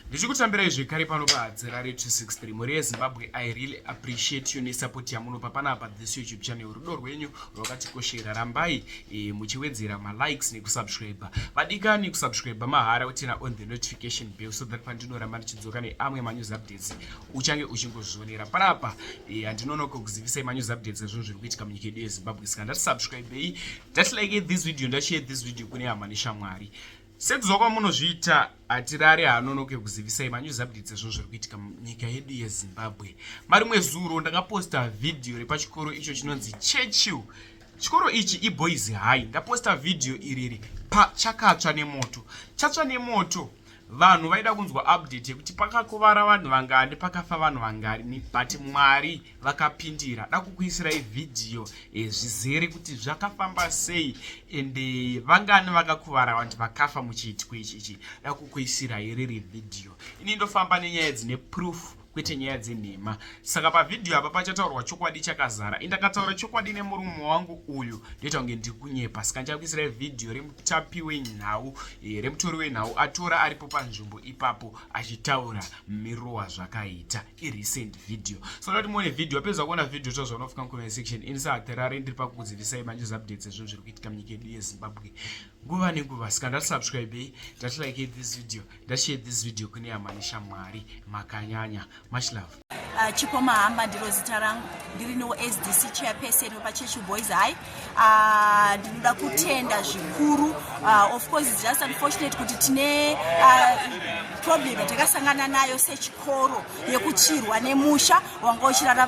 ndichikutambirai zvekare pano pahadzira re 263 mhuri yezimbabwe i really appreciate you nesupport yamunopa panapa this youtube channel rudo rwenyu rwakatikoshera rambai e, muchiwedzera malikes nekusubscribe vadikani kusubscribe mahara utina on the notification bell so that pandinoramba ndichidzoka neamwe manews updates uchange uchingozvionera panapa e, handinonoka e, kuzivisai manews updates ezvinhu zviri kuitika munyika yedu yezimbabwe saka ndati subscribei ndati like this video ndashare this video kune hama neshamwari Sekuziva kwamunozviita hatirare hanonoke kuzivisai manews updates ezvinhu zviri kuitika munyika yedu yezimbabwe mari mwezuro ndakaposta vhidhiyo repachikoro icho chinonzi churchill chikoro ichi iboys high ndaposta vhidhiyo iriri pachakatsva nemoto chatsva nemoto vanhu vaida kunzwa update yekuti pakakuvara vanhu vangani pakafa vanhu vangani but mwari vakapindira da kukuisirai vhidhiyo eh, zvizere kuti zvakafamba sei ende eh, vangani vakakuvara vanti vakafa muchiitiko ichi ichi da kukuisirai riri vhidhiyo ini ndofamba nenyaya dzine proof kwete nyaya dzenhema saka pavhidhiyo apa pachataurwa chokwadi chakazara indakataura chokwadi nemurume wangu uyu ndoita kunge ndiri kunyepa saka ndichakuisirai vhidhiyo remutapi wenhau e, remutori wenhau atora aripo panzvimbo ipapo achitaura mirowa zvakaita irecent video so ndati muone video apedza kuona video tozva unofika mucomment section ini saaterare ndiri pakukuzivisai manje updates ezvinhu zviri kuitika munyika yedu yezimbabwe nguva nenguva sika ndati subscribei ndati like this video ndashare this video kune yamani shamwari makanyanya much love uh, chipo mahamba ndiro zita rangu ndiri no sdc chairperson wepachechu boys high Ah, ndinoda uh, kutenda zvikuru uh, of course it's just unfortunate kuti tine uh, problem yatakasangana nayo sechikoro yekuchirwa nemusha wanga uchirara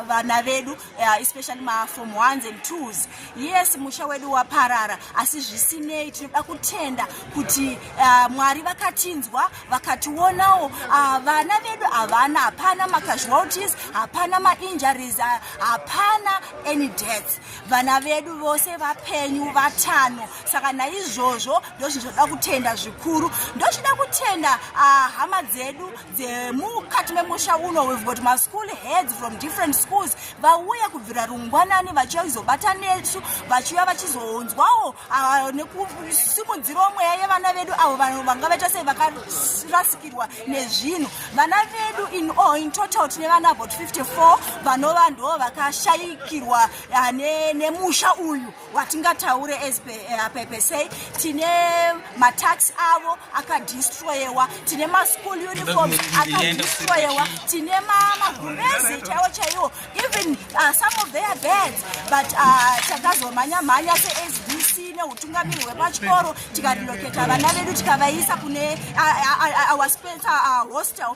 vana vedu uh, especially mafom ones and twos yes musha wedu waparara asi zvisinei tinoda kutenda kuti uh, mwari vakatinzwa vakationawo uh, vana vedu havana hapana macasualties hapana mainjuries uh, hapana any deaths vana vedu vose vapenyu vatano saka naizvozvo ndozvinhu zvoda kutenda zvikuru ndochida kutenda ah, hama dzedu dzemukati memusha uno we've got maschool heads from different schools vauye kubvira rungwanani vachiuya kuzobata nesu vachiuya vachizounzwawo Ah, nekusimudzirawo mweya yevana vedu avo vanhu vanga vaita sei vakarasikirwa nezvinhu vana vedu in all in total tine vana about 54 vanova ndo vakashayikirwa ah, nemusha uyu watingataure as eh, pepesei tine matax avo akadistroyewa tine maschool uniform akadistroyewa tine magurezi chaiwo chaiwo even uh, some of their beds but uh, takazomhanya mhanya seSDC neutungamiri hwepachikoro tikareloketa vana vedu tikavaisa kune uh, uh, our spencer uh, hostel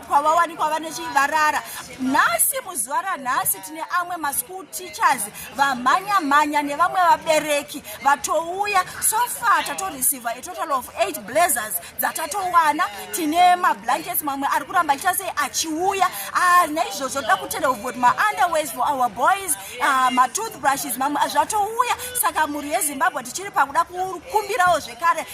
kwavawanikwa vane chivarara nhasi muzuva ranhasi tine amwe maschool teachers vamhanya mhanya nevamwe vabereki vatouya so far tatoreceiva a total of eight blazers dzatatowana tine mablankets mamwe ari kuramba achiita sei achiuya ah, naizvozvo toda kutenda kuvoti maunderways for our boys ah, matoothbrushes mamwe ah, zvatouya saka mhuri yezimbabwe tichiri pakuda kukumbirawo zvekare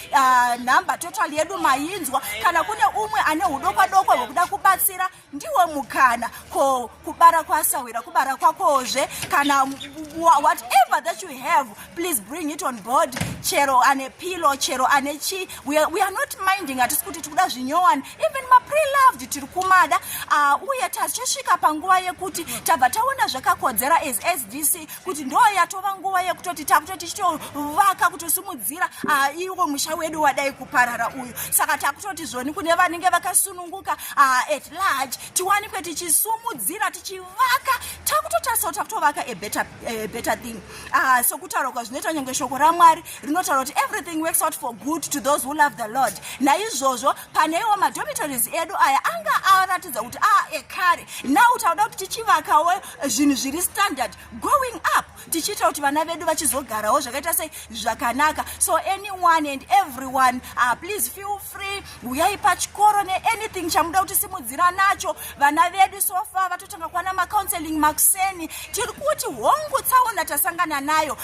nhamba total yedu mainzwa kana kune umwe ane udokwadokwa hwekuda kubatsira ndiwo mukana ko kubara kwasahwira kubara kwakozve kana whatever that you have please bring it on board chero ane pilo chero ane chi we are, we are not minding hatisi kuti tiri kuda zvinyowani even mapreloved tiri kumada uh, uye tachosvika panguva yekuti tabva taona zvakakodzera as sdc kuti ndo yatova nguva yekutoti takuto tichitovaka kutosimudzira ah, iwo musha wedu wadai kuparara uyu saka takutoti zvoni kune vanenge vakasununguka ah, at large tiwanikwe tichisumudzira tichivaka takutotarisao takutovaka a better, a better thing ah, sokutaura kwazvinoita nyange shoko ramwari rinotaura kuti everything works out for good to those who love the lord naizvozvo paneiwo madhomitories edu aya anga aratidza kuti a ah, ekare now tauda kuti tichivakawo zvinhu zviri standard going up tichiita kuti vana vedu vachizogarawo zvakaita sei zvakanaka so anyone and everyone uh, please feel free huyai pachikoro neanything chamuda kuti simudzira nacho vana vedu sofa vatotanga kwana macounseling makuseni tiri kuti hongu tsaona tasangana nayo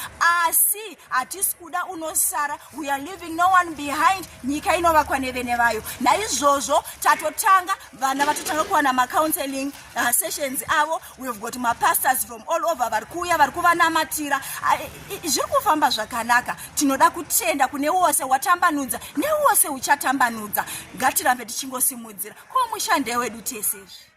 asi hatisi kuda unosara weare living no one behind nyika inovakwa nevene vayo naizvozvo tatotanga vana vatotanga kuwana macounseling uh, sessions avo weave got mapastors from all over vari kuuya vari kuvanamatira uh, zviri kufamba zvakanaka tinoda kutenda kune wose watambanudza newose uchatambanudza ngatirambe tichingosimudzira ko mushande wedu tesezvi